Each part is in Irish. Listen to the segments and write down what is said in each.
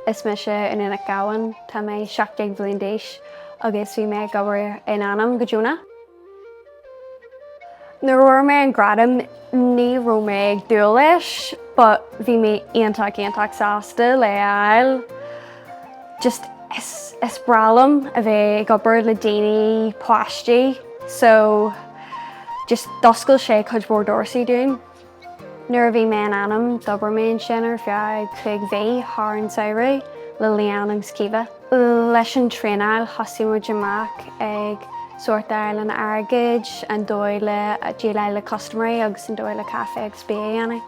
Is mise Iníon Nic Ghabhann. Tá mé 17 bhliain d'aois agus bhí mé ag obair in Anam go deonach. Nuair a fuair mé an gradam ní raibh mé ag dúil leis but bhí mé iontach iontach sásta lena fháil. Just is breá liom a bheith ag obair le daoine, páistí so just d'oscail sé cuid mhór doirse dúinn. Nuair a bhí mé in Anam, d'obair mé ansin ar feadh cúig mhí thar an samhradh le Leann agus Caoimhe. Leis an traenáil thosaigh muid amach ag sórtáil an airgid, an dóigh le déileáil le custaiméirí agus an dóigh le caife agus bia a dhéanamh.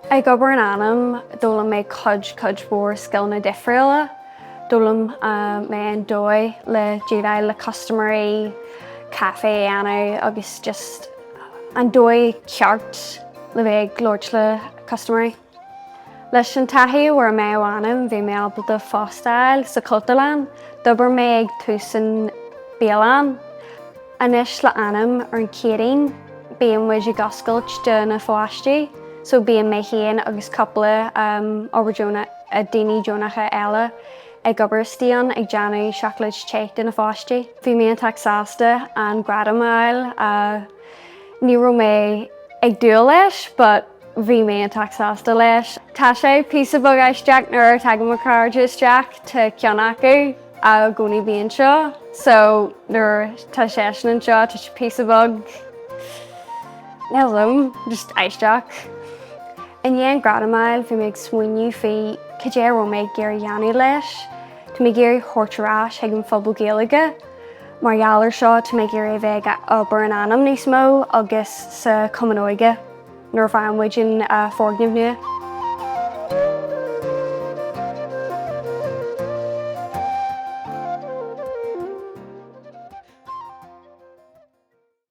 Ag obair in Anam, d'fhoghlaim mé cuid, cuid mhór scileanna difriúla. D'fhoghlaim mé an dóigh le déileáil le custaiméirí, caife a dhéanamh agus just. an dóigh cheart le bheith ag labhairt le custaiméirí. Leis an taithí a fuair mé ó Anam bhí mé ábalta fostáil sa Chultúrlann, d'obair mé ar dtús sa bhialann. Anois le Anam ar an Céadaoin bíonn muid ag oscailt do na pháistí so bíonn mé féin agus cúpla obair deonach, daoine deonacha eile. ag obair istigh ann ag déanamh seacláid te do na pháistí. Bhí mé iontach sásta an gradam a fháil. Ní raibh mé ag dúil leis but bhí mé iontach sásta leis. Tá sé píosa beag aisteach nuair a tagann mo chairde isteach, tá ceann acu i gcónaí a bhíonn anseo so nuair atá seisean anseo tá sé píosa beag, I don't know, just aisteach. I ndiaidh an gradam a fháil bhí mé ag smaoineamh faoi cad é a raibh mé ag iarraidh a dhéanamh leis. Tá mé ag iarraidh thabhairt ar ais chuig an phobal Gaeilge. Mar gheall ar seo tá mé ag iarraidh a bheith ag obair in Anam níos mó agus sa Cumann Óige nuair a bheidh muid in foirgneamh nua.